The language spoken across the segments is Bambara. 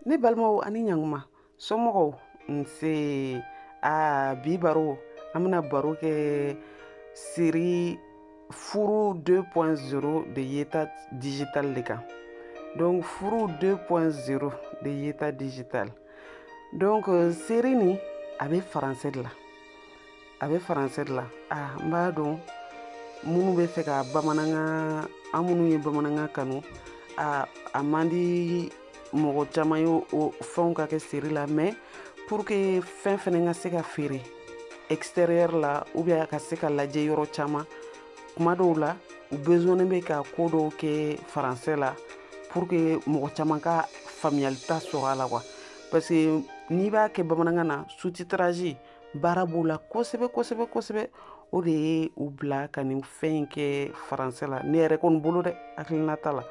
ne balimaw ani ɲanguma somɔgɔw nse a bi baro an bɛna baro kɛ série furu 2.0 de yeta digital de kan donc furu 2.0 de yeta digital donc série nin a bɛ français de la a bɛ français la aa n b'a dɔn minnu bɛ fɛ ka bamanankan an minnu ye bamanankan kanu a a man di mɔgɔ caman ye o fɛnw ka kɛ série la mais pour que fɛn fɛnɛ ka se ka feere extérieur la ou bien a ka se ka lajɛ yɔrɔ caman kuma dɔw la u besonnen bɛ ka ko dɔw kɛ français la pour que mɔgɔ caman ka faamuyalita sɔrɔ a la quoi parce que n'i b'a kɛ bamanankan na sous-titrage baara b'o la kosɛbɛ kosɛbɛ kosɛbɛ o de ye u bila ka nin fɛn in kɛ français la ne yɛrɛ kɔni bolo dɛ hakilinata la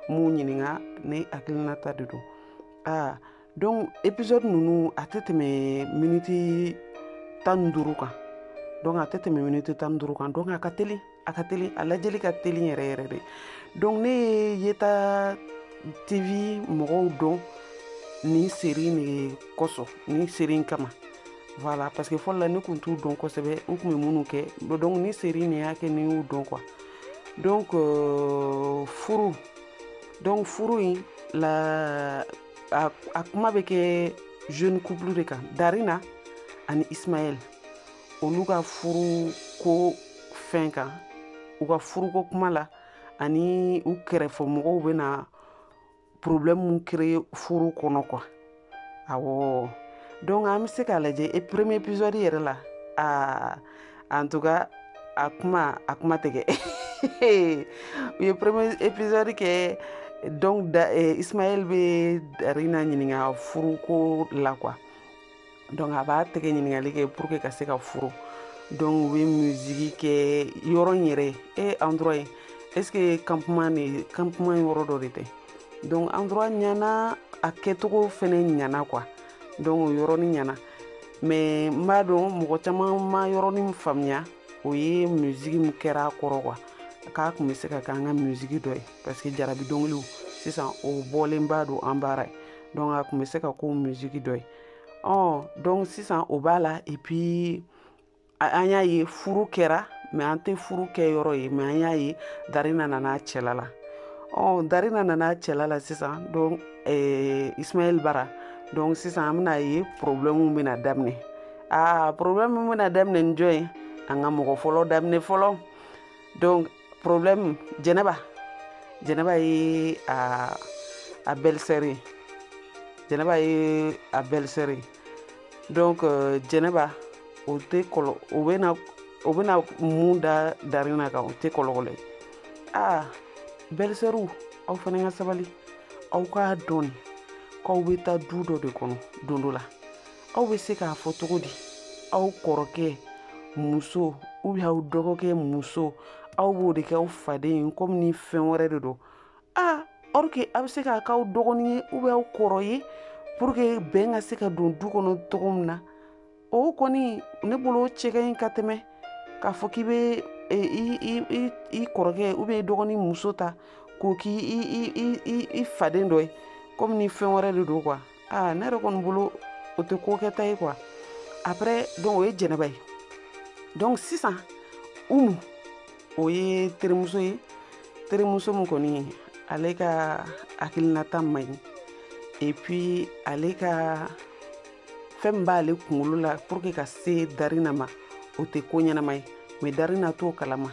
n m'u ɲininka ne hakilinata de don aa donc épisode ninnu a tɛ tɛmɛ miniti tan ni duuru kan donc a tɛ tɛmɛ miniti tan ni duuru kan donc a ka teli a ka teli a lajɛli ka teli yɛrɛ yɛrɛ de donc ne ye yeta tv mɔgɔw dɔn nin série in de kosɔn nin série in kama voilà parce que fɔlɔ la ne kun t'u dɔn kosɛbɛ u kun bɛ minnu kɛ donc nin série in de y'a kɛ ne y'u dɔn quoi donc euh, furu donc furu in la a, a kuma bɛ kɛ jeune couple de kan darina ani ismaël olu ka furu ko fɛn kan u ka furuko kuma la ani u kɛrɛfɛ mɔgɔw bɛna problème créer furu kɔnɔ quoi awɔ donc an bɛ se k'a lajɛ e premier épisode yɛrɛ la aa en tout cas a kuma a kuma tɛgɛ u ye premier épisode kɛ donc da eh, ismaël bɛ darina ɲininka furuko la quoi donc a b'a tɛgɛ ɲininkali kɛ pour que ka se ka furu donc u bɛ musiki kɛ yɔrɔ in yɛrɛ e endroit ye est-ce que campement de campement yɔrɔ dɔ de tɛ donc endroit ɲana a kɛcogo fɛnɛ ɲana quoi donc o yɔrɔnin ɲana mais n b'a dɔn mɔgɔ caman ma yɔrɔ min faamuya o ye musiki min kɛra a kɔrɔ quoi k'a kun bɛ se ka kɛ an ka musiki dɔ ye parce que jarabi dɔnkiliw sisan o bɔlen b'a don an baara ye donc a kun bɛ se ka k'o musiki dɔ ye ɔ donc sisan o b'a la et puis an y'a ye furu kɛra mais an tɛ furu kɛ yɔrɔ ye mais an y'a ye darina nana cɛla la ɔ darina nana cɛla la sisan donc eh, ismaël bara donc sisan an bɛn'a ye problème bɛna daminɛ aa problème bɛna daminɛ ni jɔn ye an ka mɔgɔ fɔlɔ daminɛ fɔlɔ donc problème jɛnɛba jɛnɛba ye a a belle-sœur ye jɛnɛba ye a belle-sœur ye donc euh, jɛnɛba o tɛ kɔlɔ o bɛna o bɛna mun da darina kan o tɛ kɔlɔkɔlɔ ye aa belle-sœur aw fana ka sabali aw k'a dɔn k'aw bɛ taa du dɔ de kɔnɔ don dɔ la aw bɛ se k'a fɔ cogo di aw kɔrɔkɛ muso ou bien aw dɔgɔkɛ muso aw b'o de kɛ aw faden ye comme ni fɛn wɛrɛ de don aa or que aw bɛ se k'a k'aw dɔgɔnin ye ou bien aw kɔrɔ ye pour que bɛn ka se ka don du kɔnɔ cogo min na o kɔni ne bolo o cɛ ka ɲi ka tɛmɛ k'a fɔ k'i bɛ i kɔrɔkɛ ou bien i dɔgɔnin muso ta k'o k'i i faden dɔ ye comme ni fɛn wɛrɛ de don quoi aa ne yɛrɛ kɔni bolo o tɛ ko kɛta ye quoi après donc o ye jɛnɛba ye donc sisan umu o ye terimuso ye terimuso min kɔni ale ka hakilinata man ɲi et puis ale ka fɛn min b'ale kunkolo la pour que ka se darina ma o tɛ ko ɲɛnama ye mais darina t'o kalama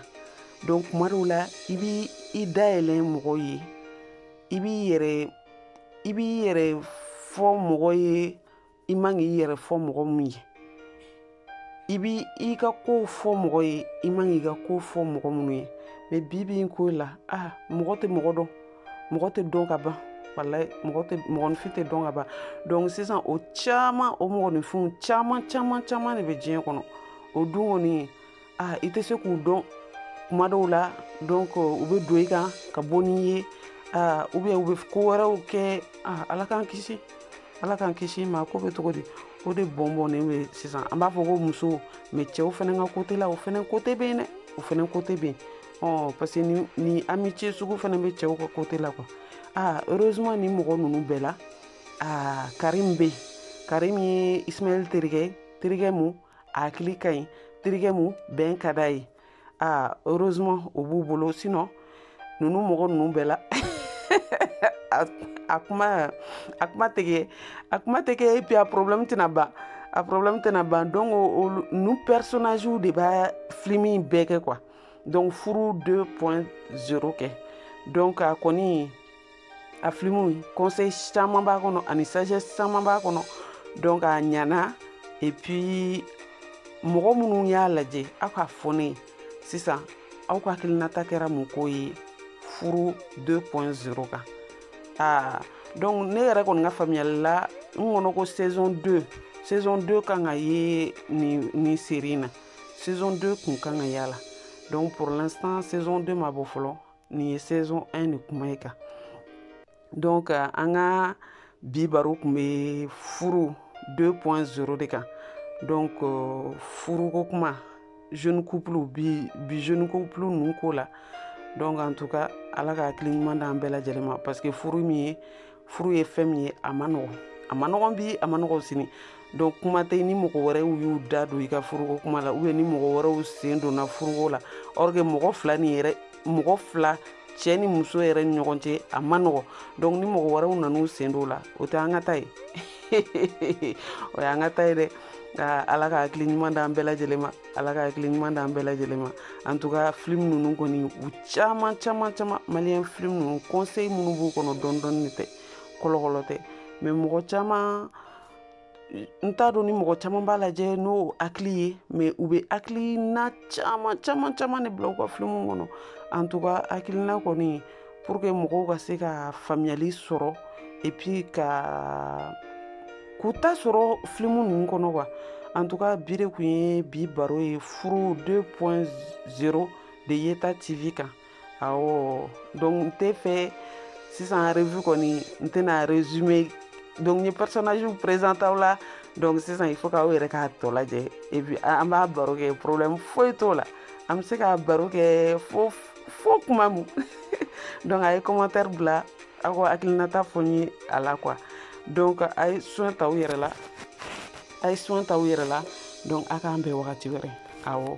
donc kuma dɔw la i b'i da yɛlɛ mɔgɔ ye i b'i yɛrɛ i b'i yɛrɛ fɔ mɔgɔ ye i man k'i yɛrɛ fɔ mɔgɔ min ye i b'i ka kow fɔ mɔgɔ ye i man k'i ka kow fɔ mɔgɔ minnu ye mais bi bi in ko la a ah, mɔgɔ tɛ mɔgɔ dɔn mɔgɔ tɛ dɔn ka ban walayi mɔgɔ tɛ mɔgɔninfin tɛ dɔn ka ban donc sisan o caman o mɔgɔninfinw caman caman caman de bɛ diɲɛ kɔnɔ o dun kɔni aa i tɛ se k'u dɔn kuma dɔw la donc u bɛ don i kan ka bɔ n'i ye aa ou bien u bɛ ko wɛrɛw kɛ aa ala k'an kisi ala k'an kisi mais ko bɛ cogo di o de bɔnbɔnnen bɛ sisan an b'a fɔ ko muso mais cɛw fana ka côté la o fana côté bɛ yen dɛ o fana côté bɛ yen ɔ parce que ni ni amitié sugu fana bɛ cɛw ka côté la quoi aa heureusement ni mɔgɔ ninnu bɛɛ la aa karim bɛ yen karim ye ismaël terikɛ terikɛ mun a hakili ka ɲi terikɛ mu bɛn ka d'a ye aa heureusement o b'u bolo sinon ninnu mɔgɔ ninnu bɛɛ la a kuma a kuma tɛ kɛ a kuma tɛ kɛ et puis a problème tɛna ban a problème tɛna ban donc o ninnu personnagew de b'a film in bɛɛ kɛ quoi donc furu 2.0 kɛ donc a kɔni a filimu conseil caman b'a kɔnɔ ani sagesse caman b'a kɔnɔ donc a ɲana et puis mɔgɔ minnu y'a lajɛ aw k'a fɔ ne ye sisan aw ka hakilinata kɛra mun ko ye furu 2.0 kan aa donc ne yɛrɛ kɔni ka faamuyali la n kɔnɔ ko saison 2 saison 2 kan ka ye nin nin seri in na saison 2 kun kan ka y'a la donc pour l'instant saison 2 ma bɔ fɔlɔ nin ye saison 1 de kuma ye kan donc euh, an ka bi baro kun bɛ furu 2.0 de kan donc euh, furuko kuma jeune couple bi jeune couple ninnu ko la donc en tout cas ala ka hakili ɲuman d'an bɛɛ lajɛlen ma parce que furu min ye furu ye fɛn min ye a ma nɔgɔn a ma nɔgɔn bi a ma nɔgɔn sini donc kuma tɛ ni mɔgɔ wɛrɛw y'u da don i ka furuko kuma la ou bien ni mɔgɔ wɛrɛw sen donna furuko la or que mɔgɔ fila cɛ ni muso yɛrɛ ni ɲɔgɔn cɛ a ma nɔgɔn donc ni mɔgɔ wɛrɛw nan'u sen don la o tɛ an ka ta ye o y'an ka ta ye dɛ ala ka hakili ɲuman d'an bɛɛ lajɛlen ma ala ka hakili ɲuman d'an bɛɛ lajɛlen ma en tout cas filim ninnu kɔni u caman caman caman malien filim ninnu conseil minnu b'u kɔnɔ dɔɔni dɔɔni de tɛ kɔlɔkɔlɔ tɛ mais mɔgɔ caman n t'a dɔn ni mɔgɔ caman b'a lajɛ n'o hakili ye mais u bɛ hakilina caman caman caman de bila u ka filimu kɔnɔ en tout cas hakilina kɔni pour que mɔgɔw ka se ka faamuyali sɔrɔ et puis ka k'u ta sɔrɔ filimu ninnu kɔnɔ quoi en tout cas bi de kun ye bi baro ye furu 2.0 de yeta tv kan awɔ donc n t'a fɛ sisan revue kɔni n tɛna résumé donc n ye personnage présenter aw la donc sisan il faut k'aw yɛrɛ k'a tɔ lajɛ et puis an b'a baro kɛ problème foyi t'o la an bɛ se k'a baro kɛ fo fo kuma min donc a ye commentaire bila aw ka hakilinata fɔ n ye a la quoi donc a ye soin ta aw yɛrɛ la a ye soin ta aw yɛrɛ la donc a k'an bɛn wagati wɛrɛ awɔ